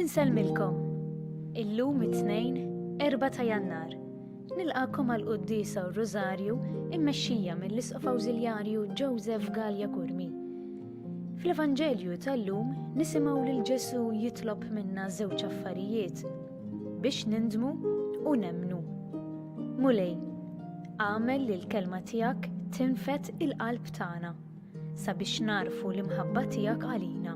Insellmilkom. Illum it-tnejn, 4 ta' Jannar. Nilqakom għal quddisa u Rużarju immexxija mill-Isqof Awżiljarju Joseph Gallia Kurmi. Fl-Evanġelju tal-lum nisimgħu lil Ġesù jitlob minna żewġ affarijiet biex nindmu u nemmnu. Mulej, għamel li l-kelma tiegħek tinfet il-qalb tagħna sabiex narfu l-imħabba tiegħek għalina.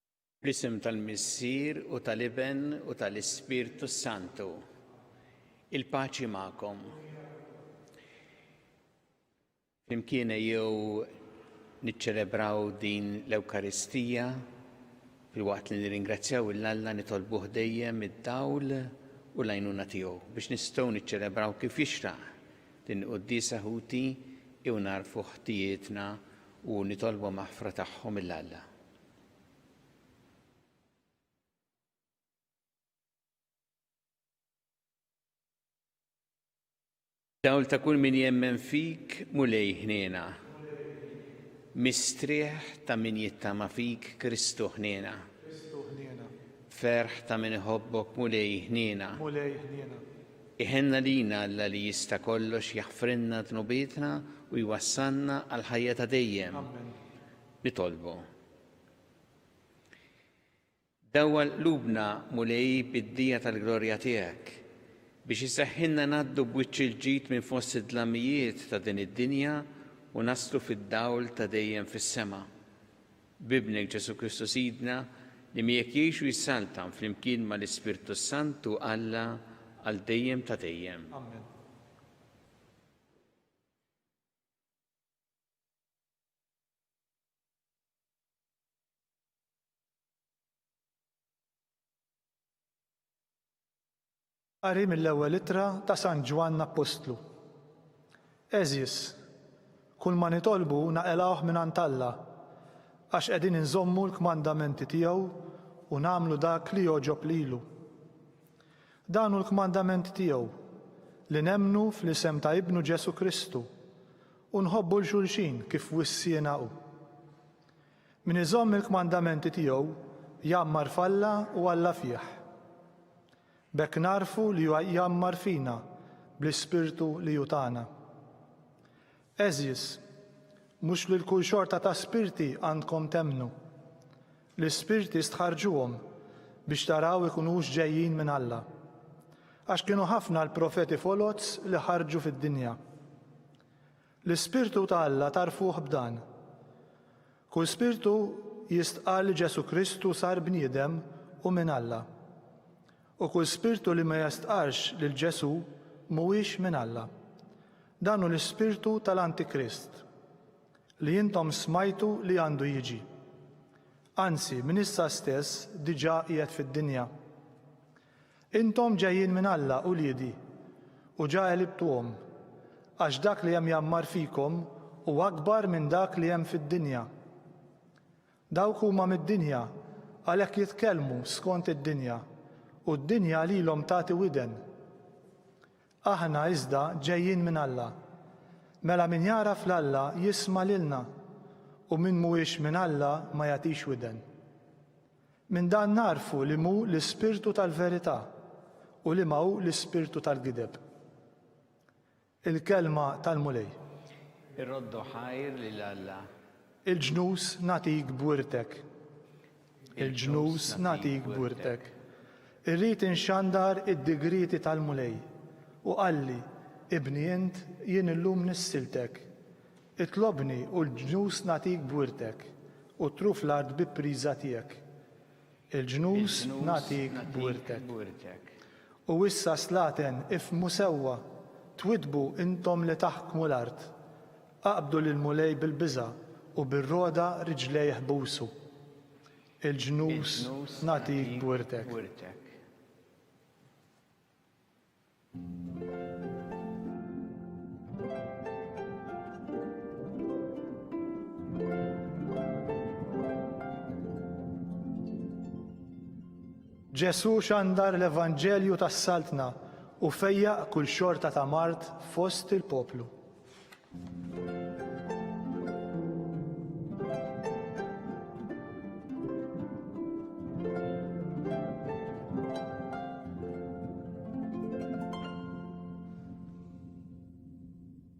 Fl-isem tal-Missier u tal-Iben u tal-Ispirtu s-Santu. Il-paċi magħkom. Flimkien jew niċċelebraw din l-Ewkaristija fil-waqt li nirringrazzjaw il-Alla nitolbuh dejjem id-dawl u l-għajnuna tiegħu biex nistgħu niċċelebraw kif jixraq din quddiesa ħuti jew narfu ħtijietna u nitolbu maħfra tagħhom il-Alla. Dawl ta' kull min jemmen fik mulej ħniena. Mistrieħ ta' min jittama fik Kristu ħniena. Ferħ ta' min iħobbok mulej ħniena. Iħenna lina Alla li jista' kollox jaħfrinna dnubietna u jwassalna għal ħajja ta' dejjem. Amen. Nitolbu. Dawwa lubna Mulej bid-dija tal-glorja tiegħek biex iseħħilna ngħaddu b'wiċċ il-ġid minn fost id-dlamijiet ta' din id-dinja u naslu fid-dawl ta' dejjem fis-sema. B'Ibnek Ġesù Kristu Sidna li miegħek jgħix u jissaltan flimkien mal-Ispirtu s-Sant u Alla għal dejjem ta' dejjem. Amen. Qari mill-ewwel ittra ta' San Ġwann Appostlu. Għeżież, kulma nitolbu naqilgħuh mingħand Alla, għax qegħdin inżommu l-kmandamenti tiegħu u nagħmlu dak li jogħġob lilu. Dan hu l-kmandament tiegħu, li nemmnu fl-isem ta' Ibnu Ġesù Kristu, U nħobbu 'l xulxin kif wissiena hu. Min iżomm il-kmandamenti tiegħu jgħammar f'Alla u Alla fih. B'hekk nagħrfu li hu jgħammar fina bl-Ispirtu li hu tana. Għeżież, mhux lil kull xorta ta' spirti għandkom temmnu. L-ispirti stħarrġuhom biex taraw ikunux ġejjin minn Alla. Għax kienu ħafna l-profeti foloz li ħarġu fid-dinja. L-ispirtu ta' Alla tagħrfuh b'dan. Kull spirtu jistqarr li Ġesù Kristu sar bniedem u minn Alla. U kull spirtu li ma jistqarrx lil Ġesù mhuwiex minn Alla. Dan hu l-ispirtu tal-Antikrist. li intom smajtu li għandu jiġi. Anzi, minn issa stess diġà qiegħed fid-dinja. Intom ġejjin minn Alla, uliedi, u ġa għelibtuhom, għax dak li hemm jgħammar fikom hu akbar minn dak li hemm fid-dinja. Dawk huma mid-dinja, għalhekk jitkellmu skont id-dinja, u d-dinja lilhom tagħti widen. Aħna iżda ġejjin minn Alla. Mela min jagħraf 'l Alla jisma' lilna, u min mhuwiex minn Alla ma jagħtix widen. Minn dan nagħrfu li m'hu l-Ispirtu tal-verità u liema hu l-ispirtu tal-gideb. Il-Kelma tal-Mulej. Irroddu ħajr lil Alla. Il-ġnus nagħtik b'wirtek. il-ġnus nagħtik b'wirtek. Irrid inxandar id-digrieti tal-Mulej. U qalli, Ibni int, jien illum nissiltek. Itlobni u l-ġnus nagħtik b'wirtek, u tru fl-art bi priża tiegħek. Il-ġnus nagħtik b'wirtek. U issa slaten, ifhmu sewwa, twiddbu intom li taħkmu l-art. Qabdu lill-Mulej bil-biża' u bir-rogħda riġlejh busu. Il-ġnus nagħtik b'wirtek. Ġesù xandar l-Evanġelju tas-Saltna u fejjaq kull xorta ta' mard fost il-poplu.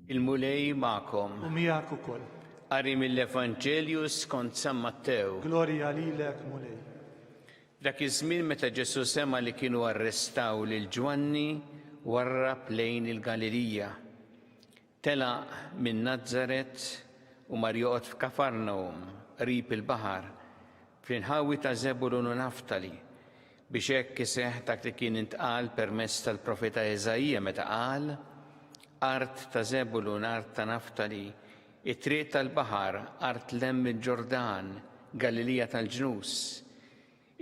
Il-Mulej ma'kom. U miegħek ukoll. Qari mill-Evanġelju skont San Mattew. Glorja lilek, Mulej. Dak iż-żmien meta Ġesù sema' li kienu arrestaw lil Ġwanni, warrab lejn il-Galilija. Telaq minn Nazaret u mar joqgħod f'Kafarnawm, qrib il-baħar, fl-inħawi ta' Żebulun u Naftali, biex hekk iseħħ dak li kien intqal permezz tal-profeta Eżaija meta qal, Art ta' Żebulun, art ta' Naftali, It-Triq tal-Baħar, Art Lemm il-Ġordan, Galilija tal-Ġnus.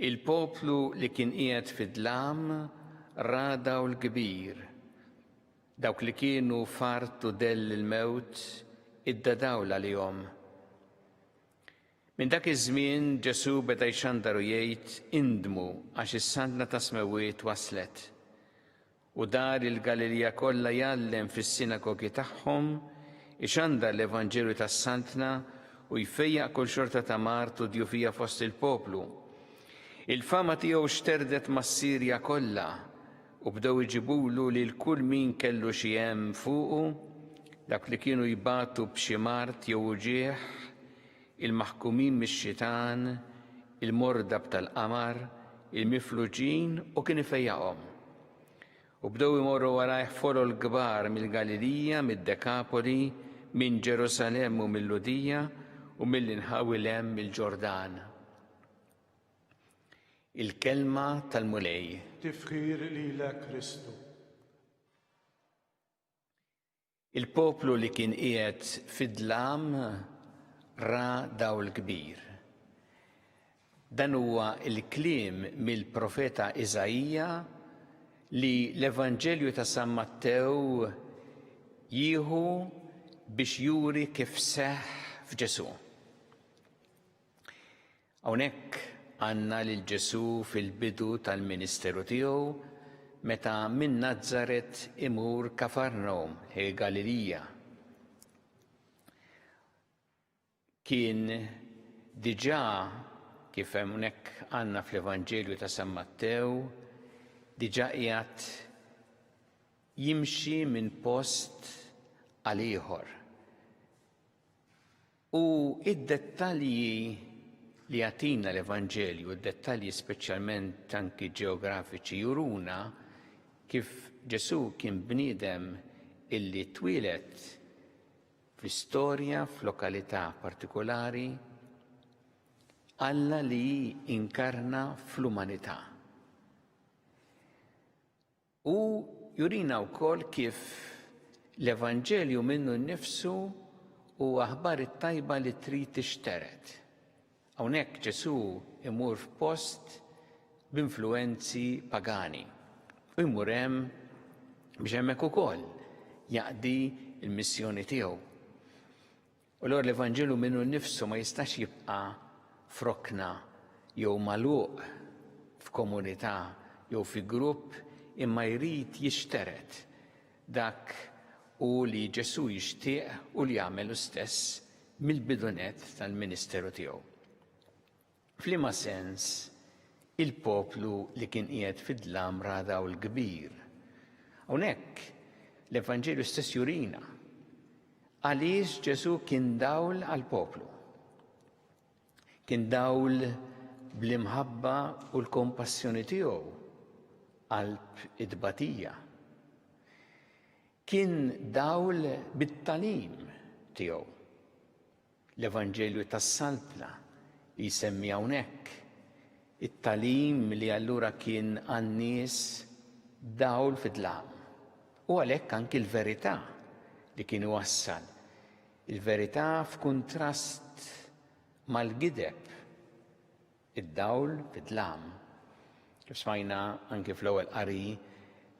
Il-poplu li kien qiegħed fid-dlam ra dawl kbir. Dawk li kienu f'art u dell il-mewt idda dawl għalihom. Minn dak iż-żmien Ġesù beda jxandar u jgħid, Indmu għax is-Saltna tas-Smewwiet waslet. U dar il-Galilija kollha jgħallem fis-sinagogi tagħhom, ixandar l-Evanġelju tas-Saltna u jfejjaq kull xorta ta' mard u djufija fost il-poplu. Il-fama tiegħu xterdet mas-Sirja kollha u bdew iġibulu lil kull min kellu xi hemm fuqu, dak li kienu jbatu b'xi mard jew uġigħ, il-maħkumin mix-xitan, il-mordab tal-qamar, il-mifluġin u kien ifejjaqhom. U bdew imorru warajh folol kbar mill-Galilija, mid-Dekapoli, minn Ġerusalemm u mill-Ludija u mill-inħawi lem mill-Ġordan. Il-kelma tal-Mulej. Tifħir lilek Kristu. Il-poplu li kien qiegħed fid-dlam ra dawl kbir. Dan huwa l-kliem mill-profeta Iżaija li l-Evanġelju ta' San Mattew jieħu biex juri kif seħħ f'Ġesù. Hawnhekk għandna lil Ġesù fil-bidu tal-ministeru tiegħu meta minn Nazaret imur Kafarnawm, il-Galilija. Kien diġà kif hawnhekk għandna fl-Evanġelju ta' San Mattew, diġà qiegħed jimxi minn post għal ieħor. U d-dettalji li jagħtina l-Evanġelju, d-dettalji speċjalment anki ġeografiċi juruna kif Ġesù kien bniedem illi twieled fl-istorja f'lokalità partikolari, Alla li inkarna fl-umanità. U jurina wkoll kif l-Evanġelju minnu nnifsu u aħbar it-tajba li trid tixtered. Hawnhekk Ġesù imur f'post b'influwenzi pagani u jmur hemm biex hemmhekk ukoll jaqdi l-missjoni tiegħu. U allura l-Evanġelu minnu nnifsu ma jistax jibqa' f'rokna jew magħluq f'komunità jew fi grupp imma jrid jixtered. Dak hu li Ġesù jixtieq u li għamel hu stess mill-bidu nett tal-ministeru tiegħu. F'liema sens il-poplu li kien qiegħed fid-dlam ra dawl kbir? Hawnhekk l-Evanġelju stess jurina għaliex Ġesù kien dawl għall-poplu. Kien dawl bl-imħabba u l-kompassjoni tiegħu qalb it-tbatija. Kien dawl bit-talim tiegħu. L-Evanġelju tas-Saltna jsemmi hawnhekk it-tagħlim li allura kien għan-nies dawl fid-dlam, u għalhekk anki l-verità li kien iwassal, il-verità f'kuntrast mal-gideb, id-dawl fid-dlam. Kif smajna anki fl-ewwel qari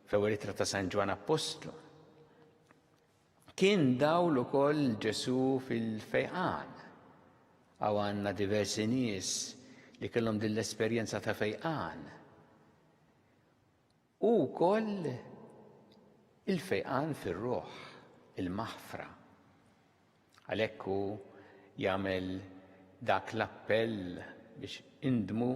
fl-ewwel ittra ta' San Ġwann Appostlu. Kien dawl ukoll Ġesù fil-fejqan. Hawn għandna diversi nies li kellhom din l-esperjenza ta' fejqan. U wkoll il-fejqan fir-ruħ, il-maħfra. Għalhekk hu jagħmel dak l-appell biex indmu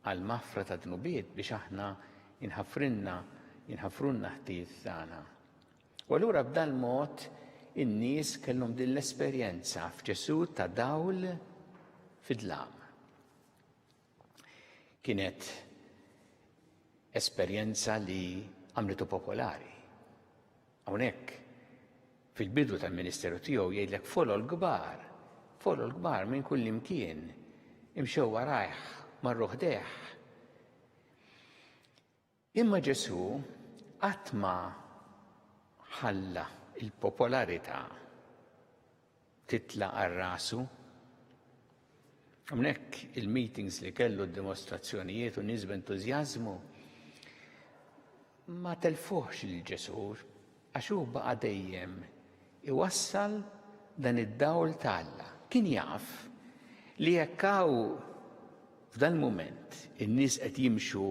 għal maħfra ta' dnubiet biex aħna jinħafrinna jinħafrunna ħtiet tagħna. U allura b'dal-mod in-nies kellhom din l-esperjenza f'Ġesù ta' dawl fid-dlam. Kienet esperjenza li għamlitu popolari. Hawnhekk fil-bidu tal-ministeru tiegħu jgħidlek folol kbar, folol kbar minn kull imkien, imxew warajh marruħ deħ. Imma Ġesù qatt ma ħalla l-popolarità titla' għal rasu. Hawnhekk il-meetings li kellu d-dimostrazzjonijiet u nies b'entużjażmu ma telfuhx lil Ġesù Għax hu baqa' dejjem iwassal dan id-dawl ta' Alla. Kien jaf li jekk hawn f'dal-mument in-nies qed jimxu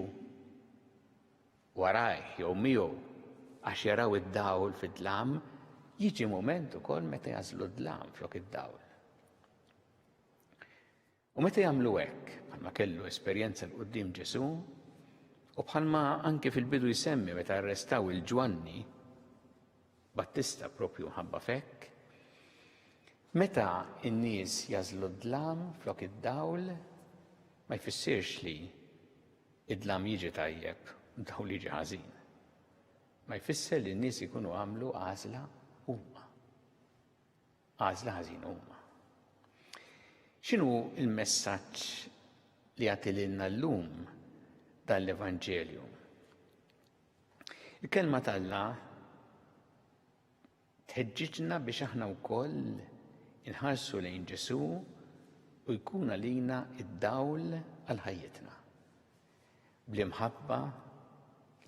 warajh jew miegħu għax jaraw id-dawl fid-dlam, jiġi mument ukoll meta jagħżlu d-dlam flok id-dawl. U meta jagħmlu hekk, bħalma kellu esperjenza 'l quddiem Ġesù, u bħalma anki fil-bidu jsemmi meta arrestaw il-Ġwanni Battista propju ħabba fekk, meta n-nies jażlu d-dlam flok id-dawl, ma jfissirx li id-dlam jiġi tajjeb u d-dawl jiġi ħażin. Ma jfisser li n-nies ikunu għamlu għażla huma. għażla ħażina huma. X'inhu l-messaġġ li jagħti lilna llum dan l-Evanġelju? Il-kelma t'Alla tħeġġiġna biex aħna wkoll inħarsu lejn Ġesu' u jkun għalina id-dawl għal ħajjitna. bl-imħabba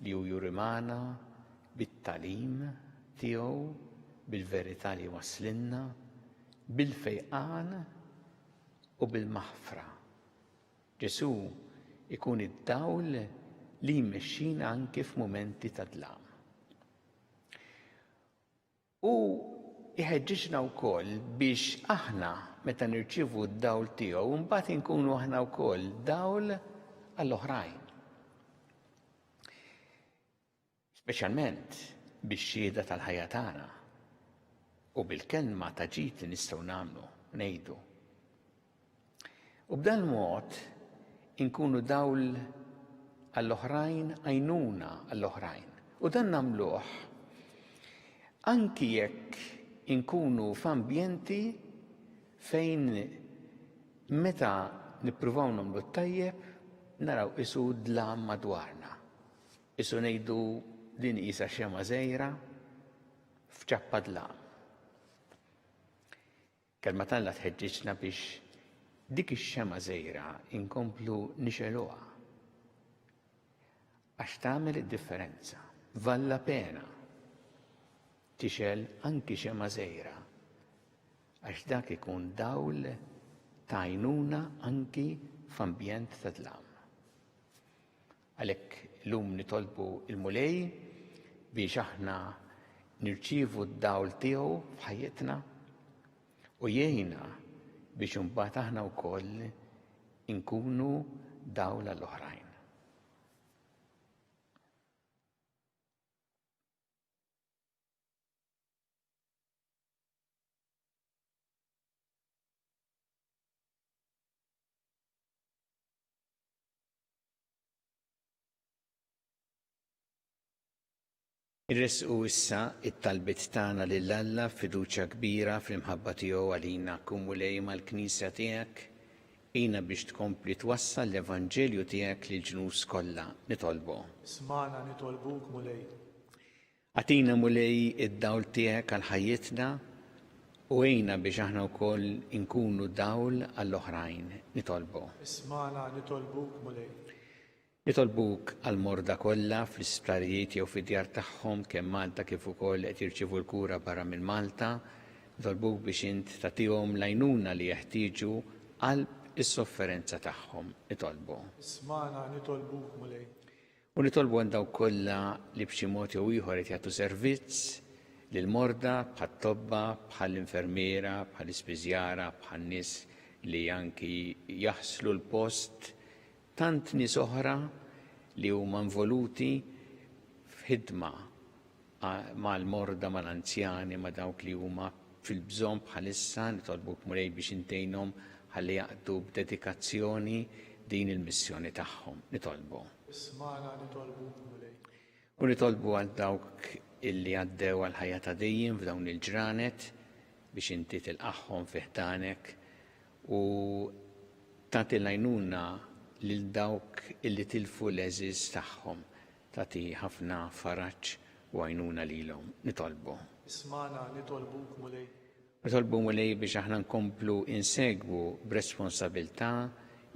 li hu jurimana bit-tagħlim tiegħu, bil-verità li jwasslilna, bil-fejqan u bil-maħfra. Ġesù ikun id-dawl li jmexxina anki f'mumenti ta' dlam. Hu jħeġġiġna wkoll biex aħna, meta nirċievu d-dawl tiegħu, imbagħad inkunu aħna wkoll dawl għall-oħrajn. Speċjalment bix-xhieda tal-ħajja tagħna u bil-kelma ta' ġid li nistgħu nagħmlu, ngħidu. U b'dan mod inkunu dawl għall-oħrajn, għajnuna għall-oħrajn. U dan nagħmluh anki jekk inkunu f'ambjenti fejn meta nippruvaw nagħmlu t-tajjeb naraw isu dlam madwarna. Isu ngħidu din qisha xema żgħira f'ċappa dlam. Kelma t'Alla tħeġġiġna biex dik ix-xemgħa żgħira inkomplu nixegħluha. Għax tagħmel id-differenza. Valla pena tixgħel anki xemgħa żgħira għax dak ikun dawl ta' għajnuna anki f'ambjent ta' dlam. Għalhekk illum nitolbu l-Mulej biex aħna nirċievu d-dawl tiegħu f'ħajjitna u jgħinna biex imbagħad aħna wkoll inkunu dawl għall-oħrajn. Irressqu issa t-talbiet tagħna lil Alla f'fiduċja kbira fl-imħabba tiegħu għalina. Kun Mulej mal-Knisja tiegħek. Għinha biex tkompli twassal l-evanġelju tiegħek lill-ġnus kollha. Nitolbu. Smagħna nitolbuk, Mulej. Agħtina, Mulej, id-dawl tiegħek għal ħajjitna u għinna biex aħna wkoll inkunu dawl għall-oħrajn. Nitolbu. Ismagħna, nitolbuk, Mulej. Nitolbuk għall-morda kollha fl-isptarijiet jew fid-djar tagħhom kemm Malta kif ukoll qed jirċievu l-kura barra minn Malta. Nitolbuk biex int tagħtihom l-għajnuna li jeħtieġu qalb is-sofferenza tagħhom. Nitolbu. Ismagħna, nitolbuk, Mulej. U nitolbu għal dawk kollha li b'xi mod jew ieħor qed jagħtu servizz lil morda bħat-tobba, bħall-infermiera, bħall-ispiżjara, bħan-nies li anki jaħslu l-post tant nies oħra li huma involuti f'ħidma mal-morda, mal-anzjani, ma' dawk li huma fil-bżonn bħalissa, nitolbuk Mulej biex intgħinhom ħalli jaqdu b'dedikazzjoni din il-missjoni tagħhom. Nitolbu. Ismagħna nitolbuk Mulej. U nitolbu għal dawk illi għaddew għal ħajja ta' dejjem f'dawn il-ġranet biex inti tilqaħħom fi ħdanek u tagħti l-għajnuna lil dawk illi tilfu l-eżiż tagħhom Tagħti ħafna faraġ u għajnuna lilhom. Nitolbu. Ismagħna, nitolbuk, Mulej. Nitolbu, Mulej, biex aħna nkomplu insegwu b'responsabilità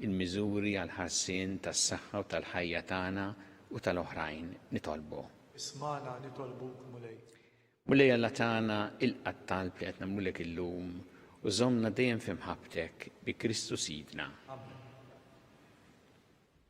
l-miżuri għall-ħarsien tas-saħħa u tal-ħajja tagħna u tal-oħrajn. Nitolbu. Ismagħna, nitolbuk, Mulej. Mulej Alla tagħna, ilqa' t-talb li qed nagħmlulek illum u żommna dejjem fi mħabbtek bi Kristu Sidna. Amen.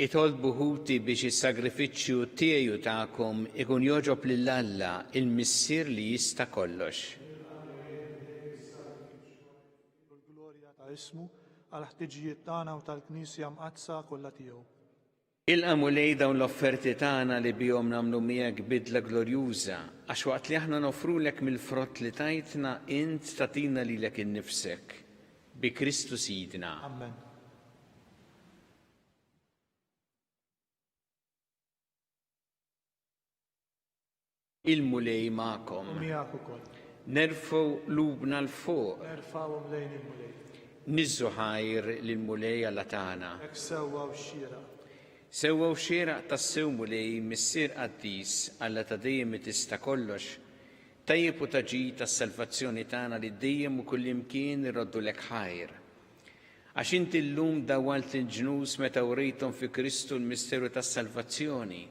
Itolbu ħuti biex is-sagrifiċċju tiegħi u tagħkom ikun jogħġob lil Alla, il-Missier li jista' kollox. L-glorja ta' ismu, għall-ħtiġijiet tagħna u tal-Knisja mqaddsa kollha tiegħu. Ilqa' Mulej dawn l-offerti tagħna li bihom nagħmlu miegħek bidla glorjuża, għax waqt li aħna noffrulek mill-frott li tajtna, int tagħtina lilek innifsek. Bi Kristu Sidna. Amen. Il-Mulej magħkom. Miegħek ukoll. Nerfgħu lubna l fuq. Nerfgħuhom lejn il-Mulej. Niżżu ħajr lil Mulej Alla tagħna. Hekk sewwa u xira. Sewwa u xira tassew Mulej Missier Qaddis Alla ta' dejjem li tista' kollox. Tajjeb u ta' ġid tas-salvazzjoni tagħna li dejjem u kullimkien irroddu lek ħajr. Għax inti llum dawwalt il-ġnus meta wrejthom fi Kristu l-misteru tas-salvazzjoni,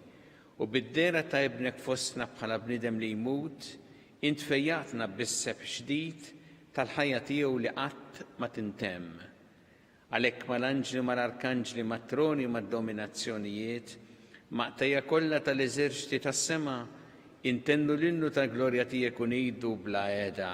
u bid-dehra ta' Ibnek fostna bħala bniedem li jmut, int fejjaqtna bis-sebħ ġdid tal-ħajja tiegħu li qatt ma tintemm. Għalhekk mal-anġli u mal-arkanġli, mat-troni u mad-dominazzjonijiet, maqtejja kollha tal-eżerċti tas-sema, intennu l-innu tal-glorja tiegħek u ngħidu bla heda,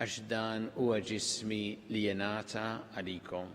Għax dan huwa ġismi li jingħata għalikom.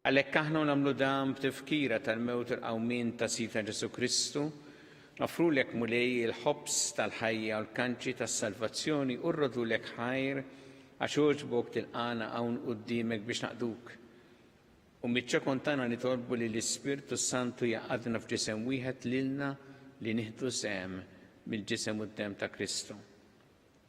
Għalhekk aħna u nagħmlu dan b'tifkira tal-mewt u l-qawmien ta' Sidna Ġesù Kristu, noffrulek, Mulej, il-ħobż tal-ħajja u l-kanċi tas-salvazzjoni u rrodulek ħajr, għax għoġbok tilqagħna hawn quddiemek biex naqduk. U miċ-ċokon tagħna nitolbu li l-Ispirtu s-Santu jgħaqqadna f'ġisem wieħed lilna li nieħdu sehem mill-ġisem u d-demm ta' Kristu.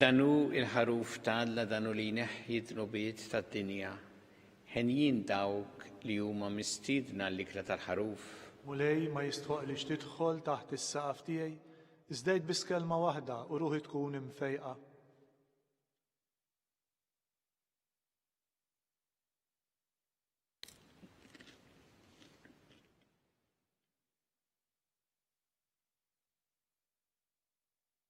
Dan hu l-Ħaruf ta' Alla dan hu li jneħħi d-dnubiet tad-dinja. Henjin dawk li huma mistiedna għall-ikla tal-Ħaruf. Mulej, ma jistħoqqlix tidħol taħt is-saqaf tiegħi, iżda għid biss kelma waħda u ruħi tkun imfejqa.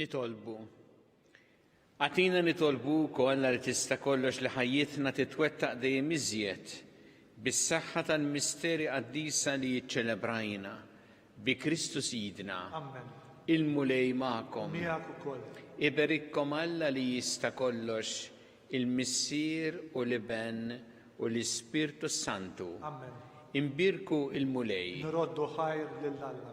Nitolbu. Għatina nitolbu kollha li tista' kollox li ħajjitna titwettaq dejjem iżjed bis-saħħa tal-misteri qaddisa li jiċċelebrajna Bi Kristu Sidna. Ammen. Il-Mulej magħkom. Miegħek ukoll. Iberikkom Alla li jista' kollox, il-Missier u l-Iben u l-Ispirtu s-Santu. Ammen. Inbierku l-Mulej. Nroddu ħajr lil Alla.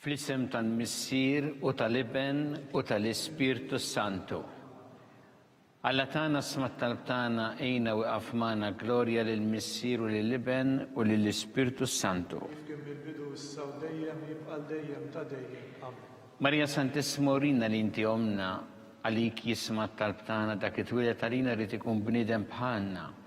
Fl-isem tal-Missier u tal-Iben u tal-Ispirtu Santu. Alla tagħna smat talb tagħna għina u magħna glorja lil Missier u lil Iben u lil Ispirtu Santu. Marija Santissima urina li inti omna għalik jisma' talb tagħna dak li twieled għalina rid ikun bniedem bħalna.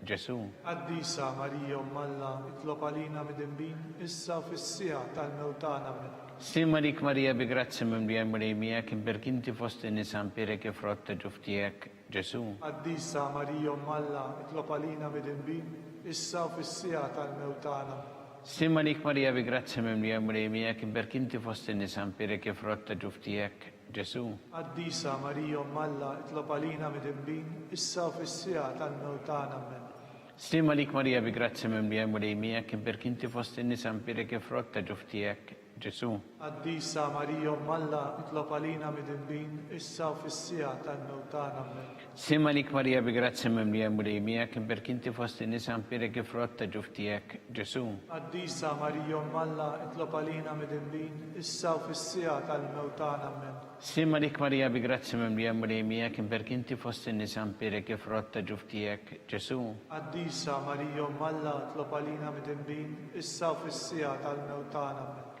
Ġesù. Qaddisa Marija Omm Alla, itlob għalina midinbin, issa u fis-siegħa tal-mewt tagħna. Ammen. Slim għalik Marija bi grazzja mimlija l-Mulej miegħek, imberk inti fost in-nisa mpierek il-frott ta' ġuf tiegħek, Ġesù. Qaddisa Marija Omm Alla, itlob għalina midinbin, issa u fis-siegħa tal-mewt tagħna. Slim għalik Marija bi grazzja mimlija l-Mulej miegħek, imberk inti fost in-nisa mpierek il-frott ta' ġuf tiegħek, Ġesù. Qaddisa Marija Omm Alla, itlob għalina midinbin, issa u fis-siegħa tal-mewt tagħna. Ammen. Sliem għalik Marija bi grazzja mimlija l-Mulej miegħek, imberk inti fost in-nisa mpierek il-frott ta' ġuf tiegħek, Ġesù. Qaddisa Marija Omm Alla, itlob għalina midinbin, issa u fis-siegħa tal-mewt tagħna. Ammen. Sliem għalik Marija bi grazzja mimlija l-Mulej miegħek, imberk inti fost in-nisa nbierek il-frott ta' ġuf tiegħek, Ġesù. Qaddisa Marija Omm Alla, itlob għalina midinbin, issa u fis-siegħa tal-mewt tagħna. Ammen. Sliem għalik Marija bi grazzja mimlija l-Mulej miegħek, imberk inti fost in-nisa nbierek il-frott ta' ġuf tiegħek, Ġesù. Qaddisa Marija Omm Alla, itlob għalina midinbin, issa u fis-siegħa tal-mewt tagħna. Ammen.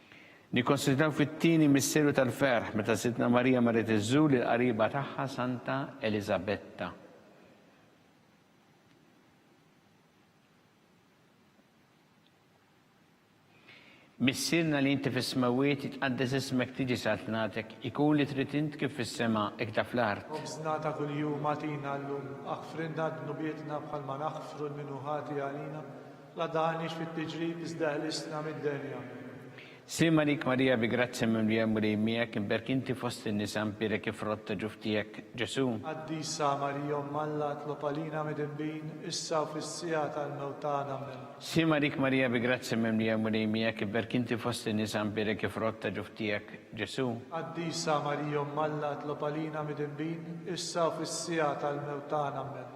Nikkonsidraw fit-tieni misteru tal-ferħ meta Sidtna Marija marret iżżur lill-qariba tagħha Santa Eliżabetta. Missierna li inti fis-smewwiet jitqaddes ismek tiġi saltnatek, ikun li trid int kif fis-sema hekk ta' fl-art. Ħobżna ta' kuljum agħtina llum. Aħfrilna dnubietna bħalma naħfru lil min hu ħati għalina. La dani x'fit tiġrib iżda ħlisna mid-denja. Sliema għalik Marija bi grazzja mimlija l-Mulej miegħek, imberk inti fost in-nisa nbierek il-frott ta' ġuf tiegħek, Ġesù. Qaddisa Marija Omm Alla tlob għalina midinbin issa u fis-siegħa tal-mewt tagħna. Ammen. Sliema għalik Marija bi grazzja mimlija l-Mulej miegħek, imberk inti fost in-nisa nbierek il-frott ta' ġuf tiegħek, Ġesù. Qaddisa Marija Omm Alla tlob għalina midinbin issa u fis-siegħa tal-mewt tagħna. Ammen.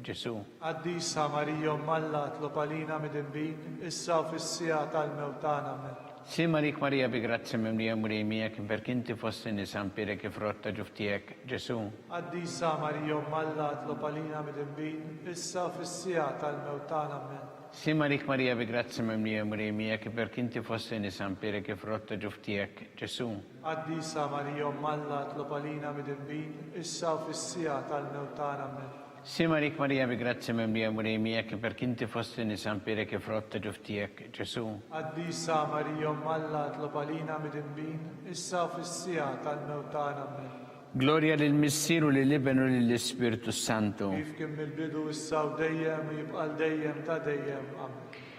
Ġesù. Qaddisa Marija Omm Alla tlob għalina midinbin issa u fis-siegħa tal-mewt tagħna. Amen. Slim għalik Marija bi grazzja mimlija l-Mulej miegħek imberk inti fost in-nisa mpierek il-frott ta' ġuf tiegħek, Ġesù. Qaddisa Marija Omm Alla tlob għalina midinbin issa u fis-siegħa tal-mewt tagħna. Amen. Slim għalik Marija bi grazzja mimlija l-Mulej miegħek imberk inti fost in-nisa mpierek il-frott ta' ġuf tiegħek, Ġesù. Qaddisa Marija Omm Alla tlob għalina midinbin issa u fis-siegħa tal-mewt tagħna. Ammen. Sima lik Marija bi grazzja mimlija l-Mulej miegħek iperk inti fost in-nisa mpierek il-frott ta' ġuf tiegħek, Ġesù. Qaddisa Marija Omm Alla tlob għalina midinbin issa u fis-siegħa tal-mewt tagħna. Ammen. Glorja lill-Missier u lill-Iben u lill-Ispirtu s-Santu. Kif kien mill-bidu issa u dejjem u jibqa' l-dejjem ta' dejjem. Ammen.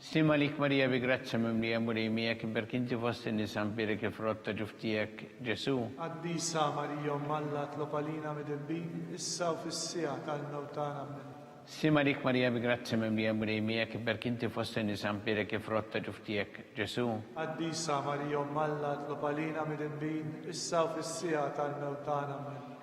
Sliem għalik Marija bi grazzja mimlija Mulej miegħek iberk inti fost in-nisa mbierek il-frott ta' ġuf tiegħek Ġesù. Qaddisa Marija Omm Alla tlob għalina midinbin issa u fis-siegħa tal-mewt tagħna ammen. Sliem għalik Marija bi grazzja mimlija Mulej miegħek iberk inti fost in-nisa mbierek il-frott ta' ġuf tiegħek Ġesù. Qaddisa Marija Omm Alla tlob għalina midinbin issa u fis-siegħa tal-mewt tagħna ammen.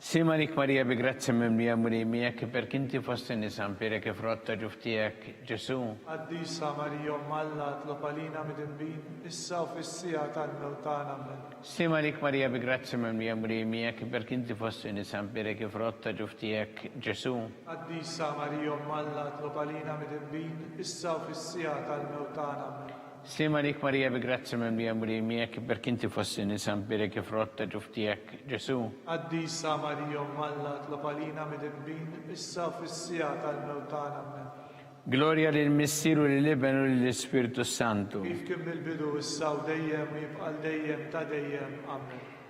Ssim għalik Marija bi grazzja mimlija Mulej miegħek, iberk inti fost in-nisa, nbierek il-frott ta' ġuf tiegħek, Ġesù. Qaddisa Marija Omm Alla tlob għalina midinbin, issa u fis-siegħa tal-mewt tagħna. Ammen. Ssim għalik Marija bi grazzja mimlija Mulej miegħek, iberk inti fost in-nisa, nbierek il-frott ta' ġuf tiegħek, Ġesù. Qaddisa Marija Omm Alla tlob għalina midinbin, issa u fis-siegħa tal-mewt tagħna. Ammen. Sliem għalik Marija bi grazzja mimlija Mulej miegħek, ibbierk inti fost in-nisa, mbierek il-frott ta' ġuf tiegħek, Ġesù. Qaddisa Marija Omm Alla, itlob għalina midinbin, issa u fis-siegħa tal-mewt tagħna. Ammen. Glorja lill-Missier u lill-Iben u lill-Ispirtu s-Santu. Kif kien mill-bidu, issa u dejjem u jibqa' għal dejjem ta' dejjem. Ammen.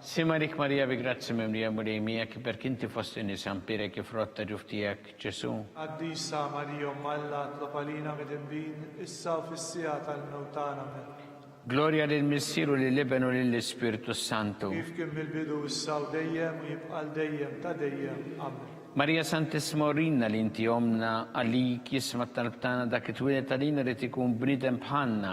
Sima rik Marija bi grazzi mimlija l-Mulej miegħek, iberk inti fost in-nisa, mpierek i frott ta' ġuf tiegħek, Ġesu'. Qaddisa Marija Omm Alla, tlob għalina midinbin, issa u fis-siegħa tal-mewt tagħna. Amen. Glorja lill-Missier u lill-Iben u lill-Ispirtu s-Santu. Kif kien mill-bidu, issa u dejjem, u jibqa' għal dejjem ta' dejjem. Amen. Marija Santissima urilna li inti ommna, għalik jisma' t-talb tagħna dak li twieled għalina irid ikun bniedem bħalna,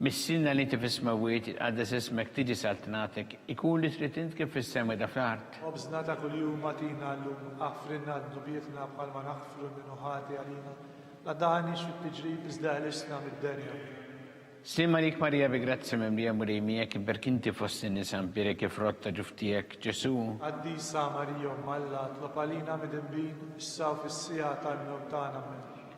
Missiena li inti fis-smewwiet, jitqaddes ismek, tiġi saltnatek, ikun li trid int kif fis-sema da fl-art. Ħobżna ta' kuljum agħtina llum. Aħfrilna dnubietna bħalma naħfru lil min hu ħati għalina. La tdaħħalniex fit-tiġrib iżda ħlisna mid-denja. Slim għalik Marija bi grazzja mimlija Mulej miegħek, iberk inti fost in-nisa nbierek il-frott ta' ġuf tiegħek, Ġesù. Qaddisa Marija Omm Alla, tlob għalina midinbin, issa u fis-siegħa tal-mewt tagħna. Ammen.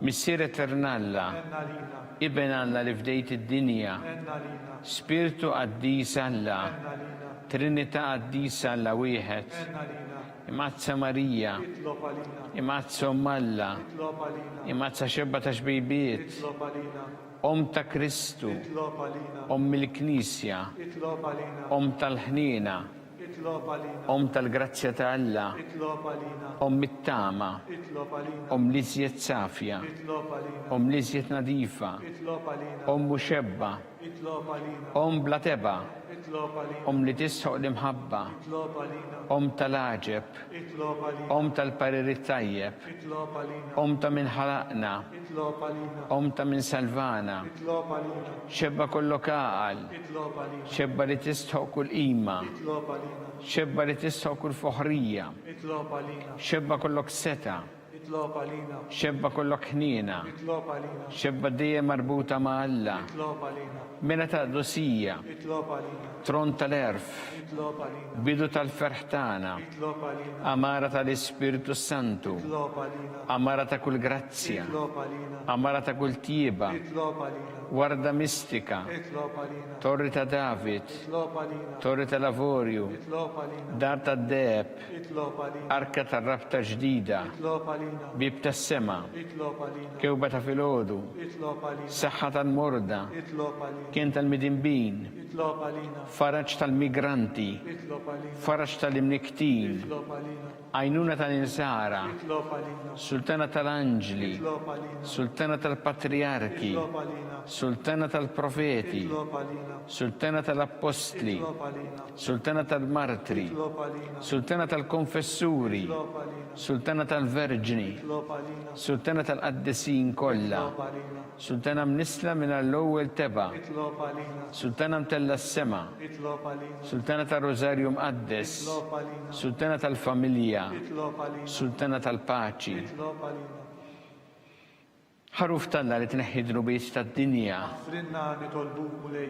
Missier Etern'Alla, Iben Alla li fdejt id-dinja, Spirtu Qaddis Alla, Trinità Qaddisa Alla Wieħed, Imqaddsa Marija, Imqaddsa Omm Alla, Imqaddsa Xebba ta' Xbejbiet, Omm ta' Kristu, Omm il-Knisja, Omm tal-ħniena, Omm tal-grazzja ta' Alla, Omm it-tama, Omm l-iżjed safja, Omm l-iżjed nadifa, Omm muxebba, Omm bla tebgħa, Omm li tistħoq l-imħabba, Omm tal-għaġeb. Omm tal-pariri t-tajjeb. Omm ta' min ħalaqna. Omm ta' min salvana. Xebba kollok għaqal. Xebba li tistħoq kull qima. Xebba li tistħoq kull foħrija. Xebba kollok setgħa. Nitlob għalina. Xebba kollok ħniena. Nitlob għalina. Xebba dejjem marbuta ma' Alla. Nitlob għalina. Mela ta' qdusija. Nitlob għalina. Tron tal-għerf. Nitlob għalina. Bidu tal-ferħ tagħna. Nitlob għalina. Għamara tal-Ispirtu s-Santu. Nitlob għalina. Għamara ta' kull grazzja. Nitlob għalina. Għamara ta' kull tjieba. Nitlob għalina. Warda mistika. Nitlob għalina. Torri ta' David. Nitlob għalina. Torri tal-avorju. Nitlob għalina. Dar tad-deheb. Arka tar-rabta ġdida, bieb tas-sema, kewba ta' filgħodu, saħħa tal-morda, kenn tal-midinbin, faraġ tal-migranti, faraġ tal-imnikktin, għajnuna tal-insara, sultana tal-anġli, sultana tal-patrijarki, sultana tal-profeti, sultana tal-appostli, Sultana tal-Martri, Sultana tal-Konfessuri, Sultana tal-Verġni, Sultana tal-Qaddisin kollha, Sultana mnissla mingħajr l-ewwel tebgħa, Sultana mtellgħa s-sema, Sultana tar-Rużarju Mqaddes, Sultana tal-Familja, Sultana tal-Paċi. Ħaruf t'Alla li tneħħi d-dnubiet tad-dinja. Aħfrilna nitolbuk Mulej.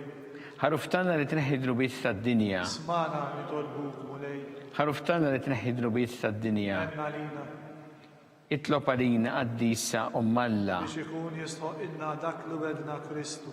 Ħaruf t'Alla li tneħħi d-dnubiet tad-dinja. Ismagħna nitolbuk Mulej. Ħaruf t'Alla li tneħħi d-dnubiet tad-dinja. Ħenn għalina. Itlob għalina Qaddisa Omm Alla. Biex ikun jistħoqqilna dak li wegħdna Kristu.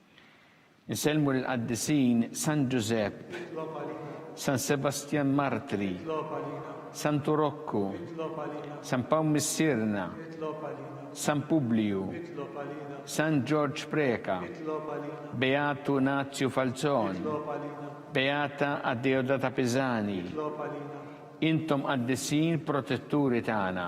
Insellmu lill-Qaddisin San Ġużepp, San Sebastjan Martri, Santu Rokku, San Pawl Missierna, San Publiju, San Ġorġ Preca, Beatu Nazju Falzon, Beata Adeodata Pisani, Intom Qaddisin protetturi tagħna.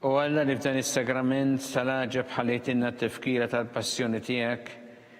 U għalla li f'dan is-sagrament tal-għaġeb ħalejtinna t-tifkira tal-passjoni tiegħek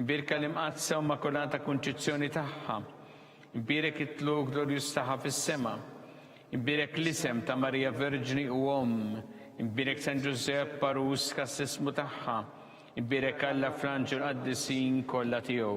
Imbierka l-Imqaddsa u Immakulata Kunċizzjoni tagħha. Imbierek it-tluq glorjuż tagħha fis-sema. Imbierek l-isem ta' Marija Verġni u Omm. Imbierek San Ġużepp, għarus kastissmu tagħha. Imbierek Alla fl-anġli u l-qaddisin kollha tiegħu.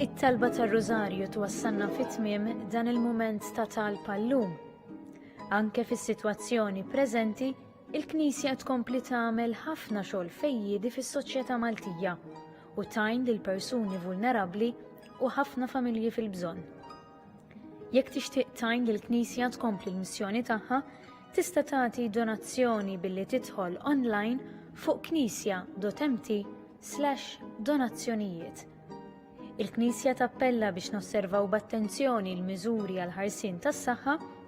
It-talba tar-Rużarju twassalna fi tmiem dan il-mument ta' talb għal-lum. Anke fis-sitwazzjoni preżenti, Il-Knisja tkompli tagħmel ħafna xogħol fejjiedi fis-soċjetà Maltija u tgħin lil persuni vulnerabbli u ħafna familji fil-bżonn. Jekk tixtieq tgħin lill-Knisja tkompli l-missjoni tagħha, tista' tagħti donazzjoni billi tidħol online fuq knisja.mt slash donazzjonijiet. Il-Knisja tappella biex nosservaw b'attenzjoni l-miżuri għal ħarsien tas-saħħa